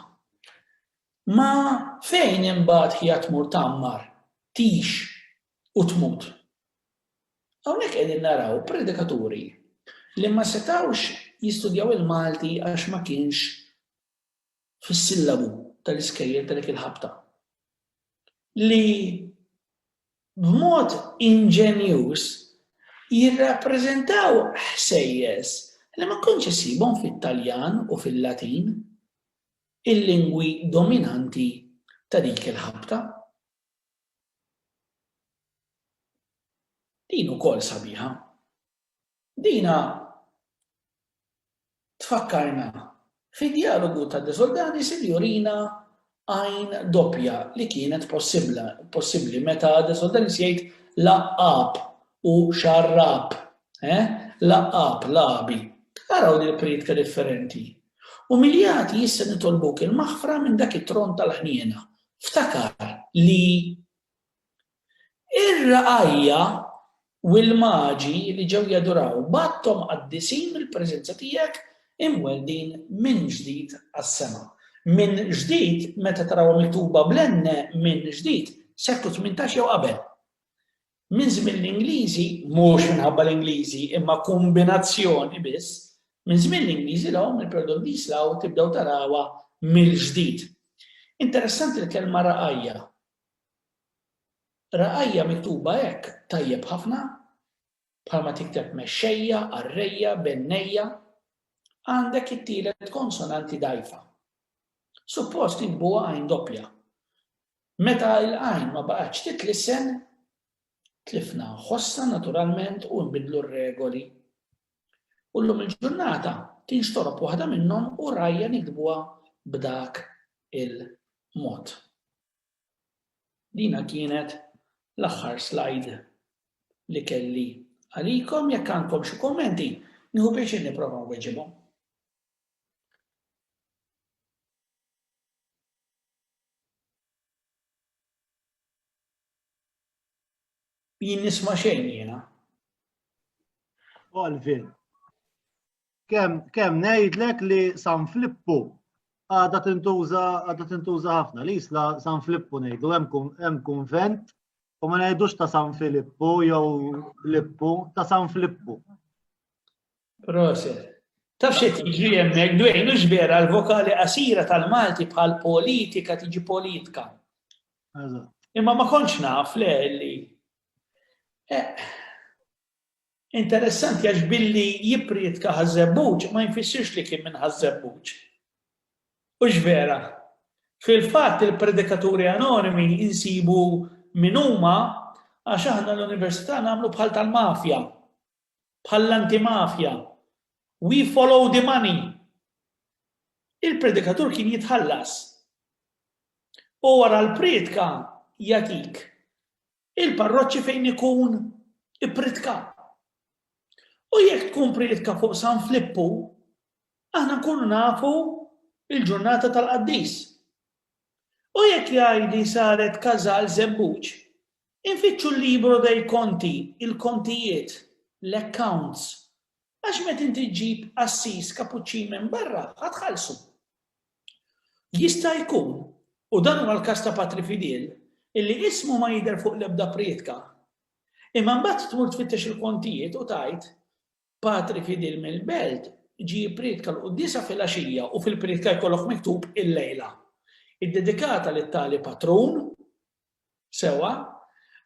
Ma fejn imbagħad hija tmur tgħammar, tgħix u tmut. Hawnhekk qegħdin naraw predikaturi li ma setgħux jistudjaw il-Malti għax ma kienx fis-sillabu tal-iskejjel ta' dik il-ħabta. Li b'mod inġenjuż jirrappreżentaw ħsejjes li ma kontx issibhom fit-Taljan u fil-Latin. il-lingwi dominanti ta' dik il-ħabta. Din ukoll sabiħa. Dina tfakkarna fid-djalogu ta' De Soldanis li jurina għajn doppja li kienet possibbli meta De Soldanis jgħid laqab u xarrab, eh? laqab, labi. Araw li prietka differenti. Umiljati issa nitolbuk il-maħfra minn dak it-tron tal-ħniena. Ftakar li r-ragħajja u l-maġi li ġew jaduraw bgħatthom qaddisin mill-preżenza tiegħek imweldin minn ġdid għas-sema. Minn ġdid meta tarawha miktuba bl-enne minn ġdid, seklu tmintax jew qabel. Minn żmien l-Ingliżi, mhux minħabba l-Ingliżi, imma kumbinazzjoni biss, minn żmien l-Ingliżi 'l hawn il-perdun bis law tibdew tarawha mill-ġdid. Interessanti l-kelma ragħajja. Ragħajja miktuba hekk tajjeb ħafna, bħalma tikteb mexxejja, qarrejja, bennejja, għandek it-tielet konsonanti dgħajfa. Suppost inkbuha għajn doppja. Meta l-għajn ma baqgħetx titlisen, tlifna nħossna naturalment u nbiddlu r-regoli. U llum il-ġurnata tinxtorob waħda minnhom u rajja nikdbuha b'dak il-mod. Dina kienet l-aħħar slide li kelli għalikom, jekk għandkom xi kummenti, nieħu pjaċir nipprova nweġibhom. Jien nisma' xejn jiena. Olvin. Kemm kemm ngħidlek li San Flippu għadha tintuża għadha tintuża ħafna li jisla San Flippu ngħidu hemm kunvent u ma ngħidux ta' San Filippu jew Lippu ta' San Flippu. Proset. Taf xi tiġri hemmhekk dwejn hux vera l-vokali qasira tal-Malti bħal politika tiġi politka. Imma ma kontx naf le li. Eh, interessanti għax billi jiprietka ħażebbuġ ma jinfissirx li kien minn ħażebbuġ. Hux vera. Fil-fatt il-predikaturi anonimi insibu min huma għax aħna l-università nagħmlu bħal tal-mafja. bħall-antimafja, We follow the money! il-predikatur kien jitħallas. U wara l-prietka jagħtik il-parroċċi fejn ikun ippritka. U jekk tkun prietka fuq San Flippu, aħna nkunu nafu il-ġurnata tal-qaddis. U jekk jgħidli saret każal żebbuġ, Infittxu l-libro dei conti, il-kontijiet, l-accounts, għax meta inti ġġib qassis Kapuċċin minn barra, ħa tħallsu. Jista' jkun, u dan huwa l-każ ta' Patri Fidel, illi ismu ma jidher fuq l-ebda prietka, imma mbagħad tmur tfittex il-kontijiet u tgħid, Patri Fidel mill-Belt ġie jipprietka l-quddiesa filgħaxija u fil-prietka jkollok miktub il-lejla, iddedikata lit-tali patrun, Sewwa,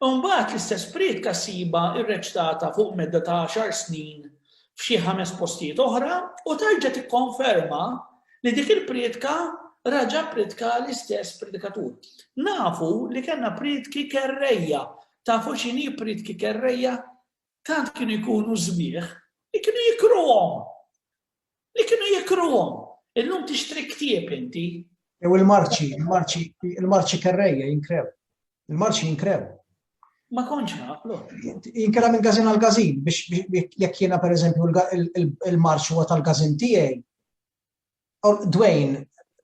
imbagħad l-istess prietka ssibha rreċtata fuq medda ta' għaxar snin f'xi ħames postijiet oħra u terġa' tikkonferma li dik il-prietka raġa' ppritkaha l-istess predikatur. Nafu li kellna prietki kerrejja. Tafu x'inhi prietki kerrejja? Tant kienu jkunu sbieħ li kienu jikruhom! li kienu jikruhom. Illum tixtri ktieb inti. Jew il-marċi, il-marċi, il-marċi kerrejja jinkrew. Il-marċi jinkrew. Ma konċ naqlu. Jinkera minn gazin għal gazin biex jekk jiena per eżempju il-marċi huwa tal-gazin tiegħi. Dwayne,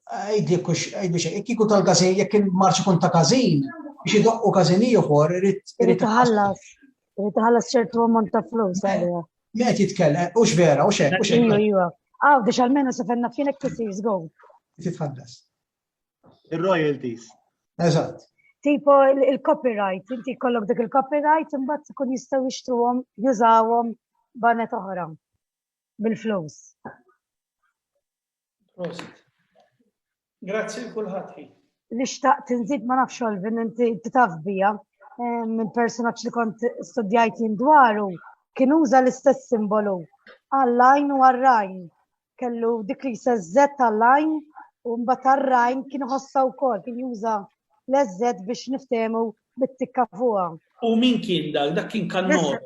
għajdi kux, għajdi xej, jekk ikun tal-gazin, jekk il-marċi kun ta' gazin, biex idoqqu gazin ieħor, irrid. Irrid iħallas. Tħallas ċertu ammont ta' flus għalija. Met jitkellem, ux vera, ux hekk, ux hekk. Iva, Għaw, biex għalmenu se fenna fienek tisir go. Titħallas. Il-royalties. Eżatt. Tipo il-copyright, inti kollok dik il-copyright, imbagħad ikun jistgħu jixtruhom, jużawhom banet oħra bil-flus. Prosit. Grazzi l-kulħadd ħin. Li xtaqt nżid ma nafx Olvin inti taf bija minn personaġġ li kont studjajt jien dwaru kien uża l-istess simbolu għall-lajn u għar-rajn. Kellu dik li sezzet għall-lajn u mbagħad għar-rajn kien ħossa wkoll kien juża l-eżżet biex niftehmu bit-tikka fuqha. U min kien dak? Dak kien kannora.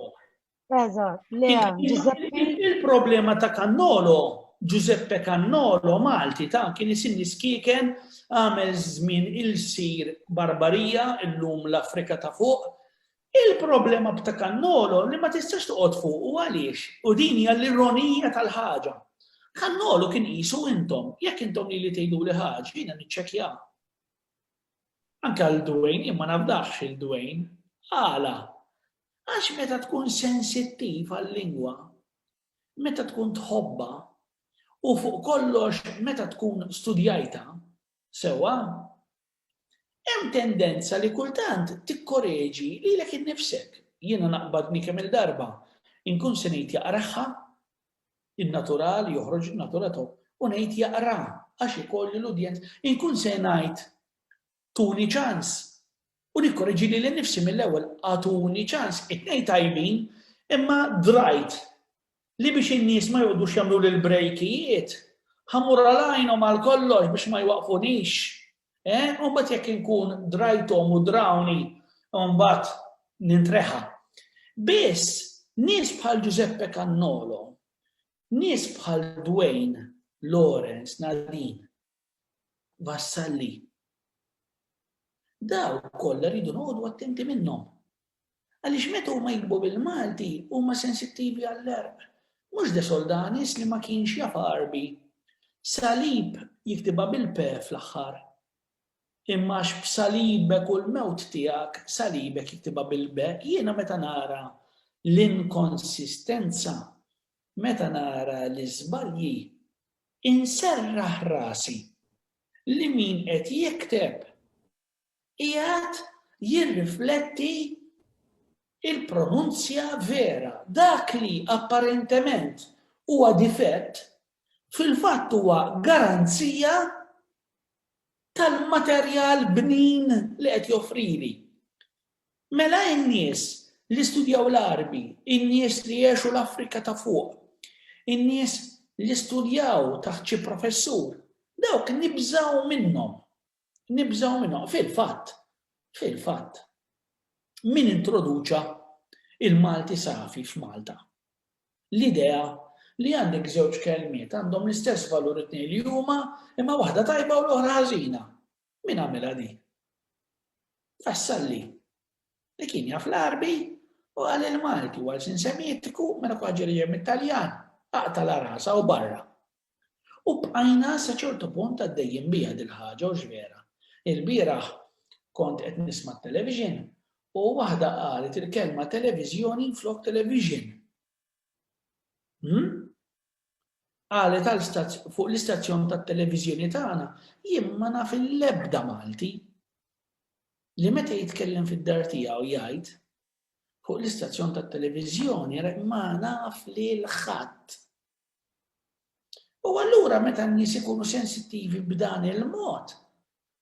Il-problema ta' Kannolo, Giuseppe Kannolo, Malti ta' kien isimni skiken għamel żmien il-sir barbarija illum l-Afrika ta' fuq. Il-problema ta' Kannolo li ma tistax toqgħod fuq u għaliex u din hija l-ironija tal-ħaġa. Kannolo kien qisu intom, jekk intom li li tgħidu li ħaġa, jiena niċċekja. Anke għal Dwayne, imma nafdax il-Dwayne, għala Għax meta tkun sensittiv għal-lingwa, meta tkun tħobbha, u fuq kollox meta tkun studjajtha sewwa, hemm tendenza li kultant tikkoreġi lilek innifsek. Jiena naqbadni kemm-il darba inkun se ngħid jaqragħha, in-natural joħroġ in-natura tiegħu, u ngħid jaqraha għax ikolli l-udjenza, inkun se ngħid Tuni ċans. U nikkoreġi lili nnifsi mill-ewwel, agħtuni ċans. It-tnejn tajbin, imma drajt li biex in-nies ma joqgħodux jagħmluli l-brejkijiet, ħa mmur għal għajnhom għal kollox biex ma jwaqqfunix. Eh, u mbagħad jekk inkun drajthom u drawni, u mbagħad nintreħa. Biss, nies bħal Giuseppe Cannolo, nies bħal Dwayne, Lawrence, Nadine, vassalli. Daw kollha rridu noqogħdu attenti minnhom. Għaliex meta huma jikbu bil-Malti huma sensittivi għall-erq. Mhux de Soldanis li ma kienx jaf Għarbi. Salib jiktibha bil-pe fl-aħħar. Imma għax b'salibek u l-mewt tiegħek salibek jiktibha bil-be, jiena meta nara l-inkonsistenza, meta nara l-iżbalji, Inserraħ rasi li min qed jikteb qiegħed jirrifletti l-pronunzja vera. Dak li apparentement huwa difett, fil-fatt huwa garanzija tal-materjal bnin li qed joffrili. Mela in-nies li studjaw l-Għarbi, in-nies li għexu l-Afrika ta' Fuq, in-nies li studjaw taħt xi professur, dawk nibżgħu minnhom. Nibżgħu minnhom. Fil-fatt, fil-fatt, min introduċa il-Malti safi f'Malta? L-idea li għandek żewġ kelmiet għandhom l-istess valur it-tnejn li huma imma waħda tajba u l-oħra ħażina. Min għamilha din? Vassalli, li kien jaf l-Għarbi u qal li l-Malti huwa lsien Semitiku mela kull ħaġa li ġejja mit-Taljan aqtala rasha u barra. U bqajna sa ċertu punt għaddejjin biha dil-ħaġa hux vera? Ilbieraħ kont qed nisma' t-television u waħda qalet il-kelma televiżjoni flok television. Hm? Qalet għal fuq l-istazzjon tat-televiżjoni tagħna, jien ma naf l-ebda Malti li meta jitkellem fid-dar tiegħu jgħid fuq l-istazzjon tat-televiżjoni ma naf lil ħadd. U allura meta n-nies ikunu sensittivi b'dan il-mod,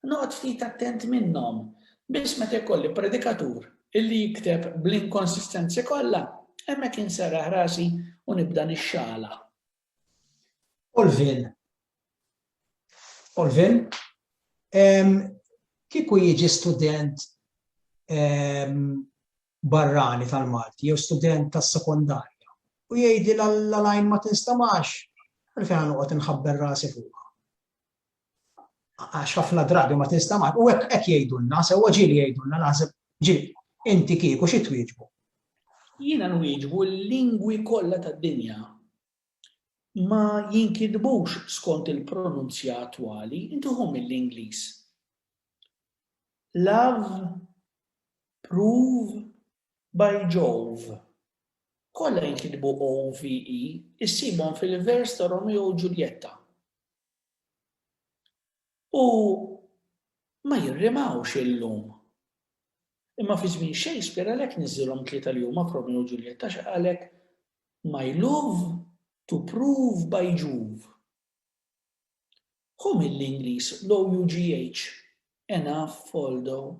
Noqgħod ftit attent minnhom, biss meta jkolli predikatur li jikteb bl-inkonsistenzi kollha, hemmhekk inserraħ rasi u nibda nixxaħlaħ. Olvin, Olvin, kieku jiġi student barrani tal-Malti jew student tas-sekondarja u jgħidli l-għalajn ma tinstamax, għalfejn ħa noqgħod inħabber rasi fuqha. għax ħafna drabi ma tinstamax u hekk hekk jgħidulna, sewwa ġieli jgħidulna naħseb ġieli, inti kieku xi twieġbu? Jiena nwieġbu l-lingwi kollha tad-dinja ma jinkitbux skont il-pronunzja attwali, inti ħu mill-Ingliż. Love, prove, by Jove. Kollha jinkitbu OVE, issibhom fil-vers ta' Romeo u Ġuljetta. u ma jirrimawx illum. Imma fi żmien Shakespeare għalhekk niżżilhom tlieta li huma f'Romeo u Ġuljetta għax qalek my love to prove by Juve. Hu mill-Ingliż l-OUGH, enough although.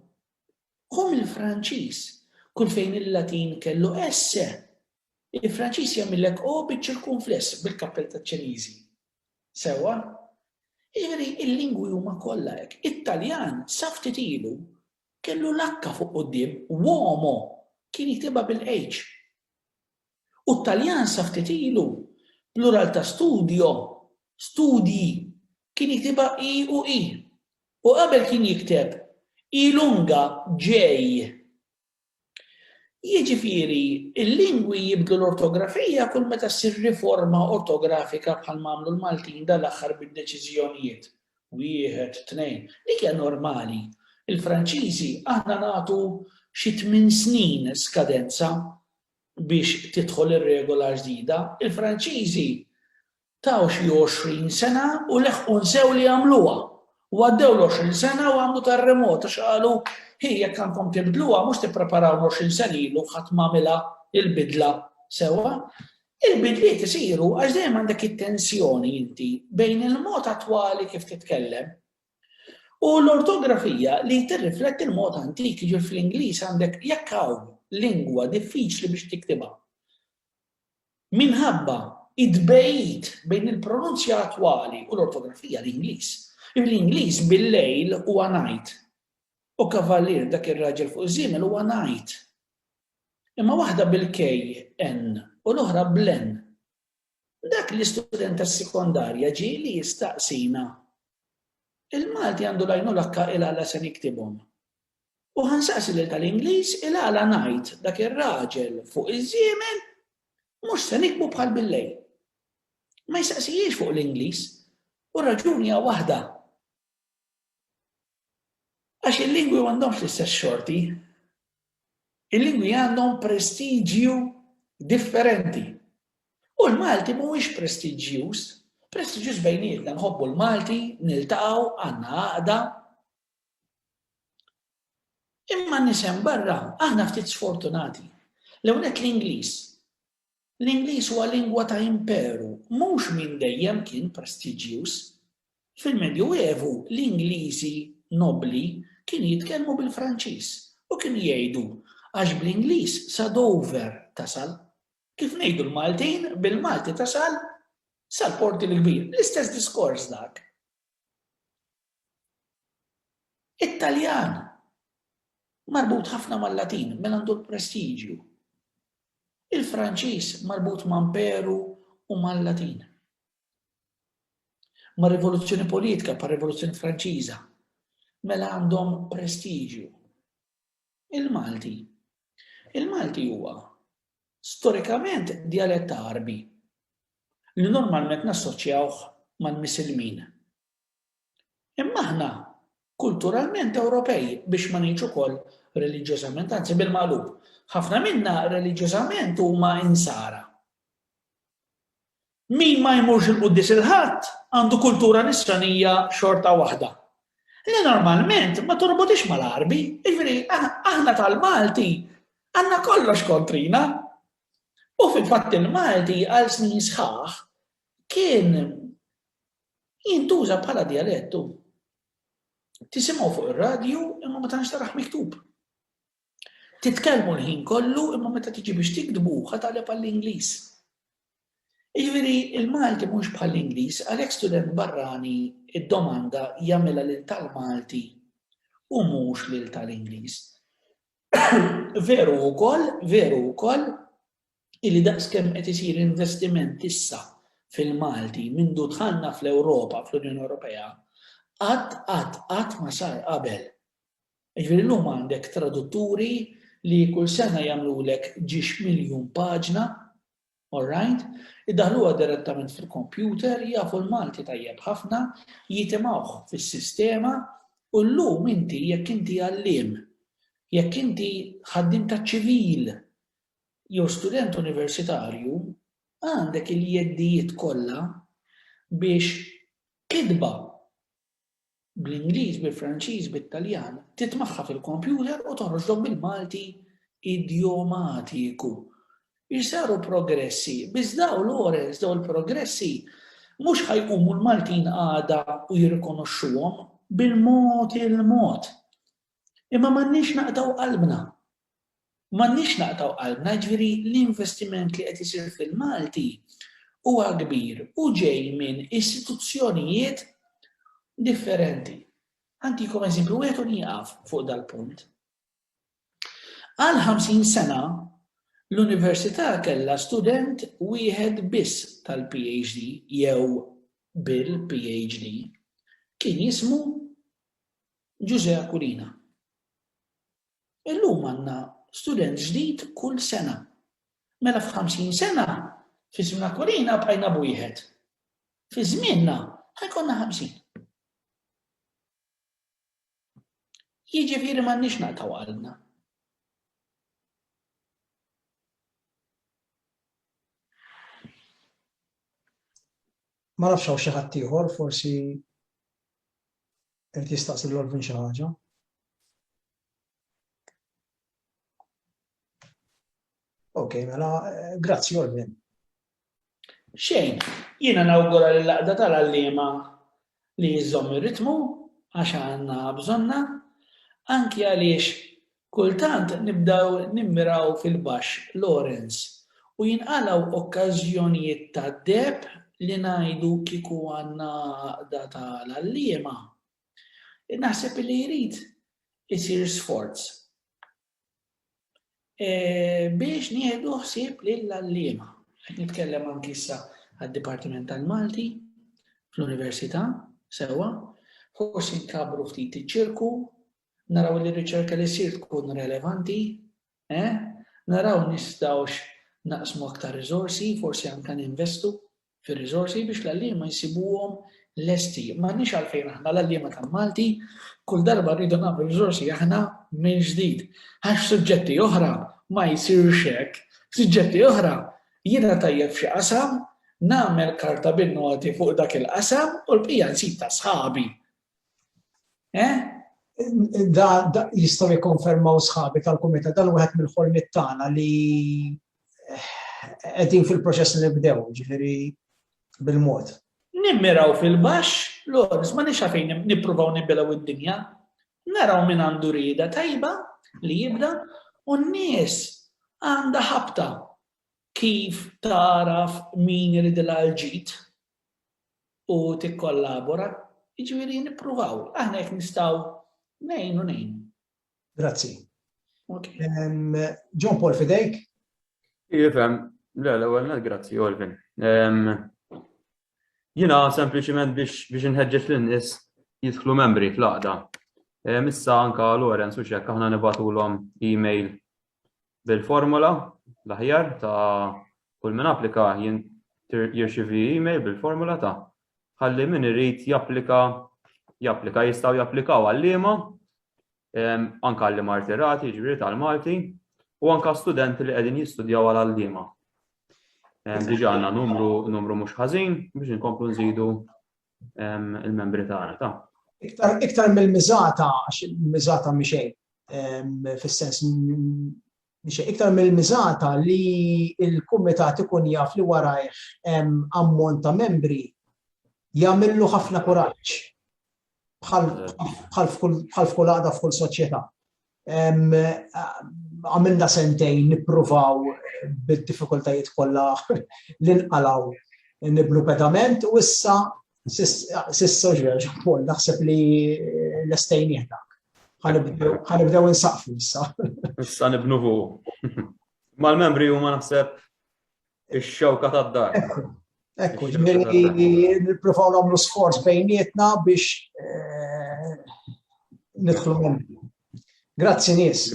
Hu mill-Franċiż, kull fejn il-Latin kellu esse, il-Franċiż jagħmillek o biċ-ċirkunfless bil-kappell taċ-Ċiniżi. Sewwa? Jiġifieri l-lingwi huma kollha hekk. It-Taljan sa ftit ilu kellu l-H fuq quddiem, uomo, kien jiktibha bil-H. U t-Taljan sa ftit ilu, plural ta' studio, studji, kien jiktibha i u i. U qabel kien jikteb, I lunga, ġej. Jiġifieri, il-lingwi jibdlu l-ortografija kull meta ssir riforma ortografika bħalma għamlu l-Maltin dal-aħħar bid-deċiżjonijiet, wieħed, tnejn. Dik hija normali. Il-Franċiżi aħna nagħtu xi tmien snin skadenza biex tidħol ir-regola l-ġdida. Il-Franċiżi Taw xi għoxrin sena u leħqu nsew li jagħmluha. U għaddew l-għoxrin sena u għamlu terremot għax qalu, Hi, jekk għandkom tibdluha, mhux tippreparaw l-għoxrin sena ilu ħadd ma għamilha l-bidla sewwa. Il-bidliet isiru għax dejjem għandek it-tensjoni inti bejn il-mod attwali kif titkellem u l-ortografija li tirrifletti l-mod antik, jiġifieri fl-Ingliż għandek jekk hawn lingwa diffiċli biex tiktibha. Minħabba t-tbegħid bejn il-pronunzja attwali u l-ortografija l-Ingliż, bl-Ingliż bil-lejl huwa night u kavallier dak ir-raġel fuq iż-żiemel huwa knight. Imma waħda bil-KN u l-oħra bl-N. Dak l-istudent tas-sekondarja ġie li jistaqsina, Il-Malti għandu l-għajnuna kk ilha la se niktibhom? U ħa nsaqsi lil tal-Ingliż il-għala ngħid dak ir-raġel fuq iż-żiemel mhux se nikbu bħal billejl. Ma jistaqsijiex fuq l-Ingliż u r-raġuni hija waħda. Għax il-lingwi m'għandhomx l-istess xorti. Il-lingwi għandhom prestiġju differenti. U l-Malti mhuwiex prestiġjuż, prestiġjuż bejnietna nħobbu l-Malti, niltaqgħu, għandna għaqda. Imma n-nies hemm barra, aħna ftit sfortunati. L-ewwel nett l-Ingliż. L-Ingliż huwa lingwa ta' imperu, mhux minn dejjem kien prestiġjuż. Fil-Medju Evu l-Ingliżi nobbli kienu jitkellmu bil-Franċiż u kienu jgħidu għax bl-Ingliż sa Dover tasal. Kif ngħidu l-Maltin, bil-Malti tasal sal-Porti l-Kbir. L-istess diskors dak. It-Taljan, marbut ħafna mal-Latin, mela għandu l-prestiġju. Il-Franċiż marbut ma' mperu u mal-Latin. Ma' rivoluzzjoni politika, pa' rivoluzzjoni Franċiża, mela għandhom prestiġju. Il-Malti. Il-Malti huwa storikament dialett Arbi. li normalment nassoċjawh mal-Misilmin. Imma aħna kulturalment Ewropej, biex ma ngħidx ukoll reliġjożament, anzi bil-maqlub, ħafna minna reliġjożament huma Insara. Min ma jmurx il-Quddies il-Ħadd għandu kultura nisranija xorta waħda. Li normalment ma torbotix mal-Għarbi, jiġifieri aħna tal-Malti għandna kollox kontrina, U fil-fatt il-Malti għal snin sħaħ kien jintuża bħala dialettu. Tisimgħu fuq ir-radju imma ma tantx taraħ miktub. Titkellmu l-ħin kollu imma meta tiġi biex tiktbu ħataleb għall-Ingliż. Jiġifieri il-Malti mhux bħall-Ingliż għalhekk student barrani id-domanda jagħmilha lil tal-Malti u mhux lil tal-Ingliż. Veru wkoll, veru wkoll, illi daqskemm qed isir investiment issa fil-Malti mindu dħalna fl-Ewropa, fl-Unjoni Ewropea, qatt qatt qatt ma sar qabel. Jiġifieri llum għandek tradutturi li kull sena jagħmlulek ġiex miljun paġna All right. Iddaħħluha direttament fil-computer, jafu l-Malti tajjeb ħafna, jitimgħuh fis-sistema u llum inti jekk inti għalliem, jekk inti ħaddiem taċ-ċivil jew student universitarju, għandek il-jeddijiet kollha biex kitba bl-Ingliż, bil-Franċiż, bit-Taljan, titmagħha fil-kompjuter u toħroġlhom bil-Malti idjomatiku. Isaru progressi, biss daw Lawrence, daw il-progressi mhux ħa jqumu l-Maltin għada u jirrikonoxxuhom bil-mod il-mod. Imma m'għandniex naqtgħu qalbna. M'għandniex naqtgħu qalbna, jiġifieri l-investiment li qed isir fil-Malti huwa kbir u ġej minn istituzzjonijiet differenti. Ħantikom eżempju wieħed u nieqaf fuq dal-punt. Għal 50 sena l-università kellha student wieħed biss tal-PhD jew bil-PhD. Kien jismu Ġużè Aquilina. Illum għandna student ġdid kull sena. Mela f'ħamsin sena, fi żmien Aquilina bqajna b'wieħed. Fi żmienna ħa jkollna ħamsin. Jiġifieri m'għandniex naqtaw qalbna. Ma nafx hawn xi ħadd ieħor forsi irid jistaqsi lil Olvin xi ħaġa. Ok, mela, eh, grazzi Olvin. Xejn, jiena nawgura li laqda tal-għallima li jizzom ir-ritmu għax għandna bżonna, anki għaliex Kultant nibdew nimmiraw fil-baxx, Lawrence, u jinqalgħu okkażjonijiet ta' deheb li ngħidu kieku għandna għaqda ta' l-għalliema. Naħseb li jrid isir sforz biex nieħdu ħsieb lill-għalliema. Qed nitkellem anki issa għad-Dipartiment tal-Malti fl-Università, sewwa, forsi nkabbru ftit iċ-ċirku naraw li r-riċerka li ssir tkun relevanti, eh, naraw nistgħux naqsmu aktar riżorsi, forsi anke ninvestu fir-riżorsi biex l-għalliema jsibuhom lesti. M'għandniex għalfejn aħna l-għalliema tal-Malti kull darba rridu nagħmlu riżorsi aħna minn ġdid. Għax suġġetti oħra ma jsirx hekk. Suġġetti oħra jiena tajjeb f'xi qasam, nagħmel karta bin-noti fuq dak il-qasam u l-bqija nsib ta' sħabi. Eh? Da, da jistaw jikonfermaw sħabi tal-kumita dan wieħed mill-ħolmit tagħna li eh, qegħdin fil-proċess li nibdew, ġifieri bil-mod. Nimmiraw fil-baxx, l-għors ma nix fejn nippruvaw nibbilaw id-dinja, naraw minn għandu rida tajba li jibda u n-nies għandha ħabta kif taraf min irid l-ġid u tikkollabora, jiġifieri nippruvaw, aħna jekk nistgħu ngħinu ngħinu. Grazzi. John Paul fidejk? Jifhem, le l-ewwel net grazzi Olvin. Jiena sempliċiment biex biex inħeġġeġ lin-nies jidħlu membri fl-għaqda. Issa anka Lorenz u xekk aħna nibatulhom email bil-formola l-aħjar ta' kull min applika jirċivi email bil-formola ta' ħalli min irid japplika japplika jistgħu japplikaw għal-liema anke għalli martirati, ġifieri tal-Malti, u anke studenti li qegħdin jistudjaw għal għalliema. Diġà għandna numru numru mhux ħażin biex inkomplu nżidu il-membri tagħna ta'. Iktar, iktar mill-miżata, għax il-miżata miexej, fis-sens miexej, iktar mill-miżata li il-kumitat ikun jaf li warajh ammont ta' membri jagħmillu ħafna kuraġġ bħal f'kull għada f'kull soċjetà. Għamilna sentejn nippruvaw bid-diffikultajiet kollha li nqalgħu nibnu pedament u issa s'issa Paul naħseb li lestejnieh dak. Ħanibdew insaqfu issa. Issa nibnu fuq. Mal-membri huma naħseb Ix-xewka tad-dar. Ekku, nippruvaw nagħmlu sforz bejnietna biex eh, nidħlu Grazzi nies.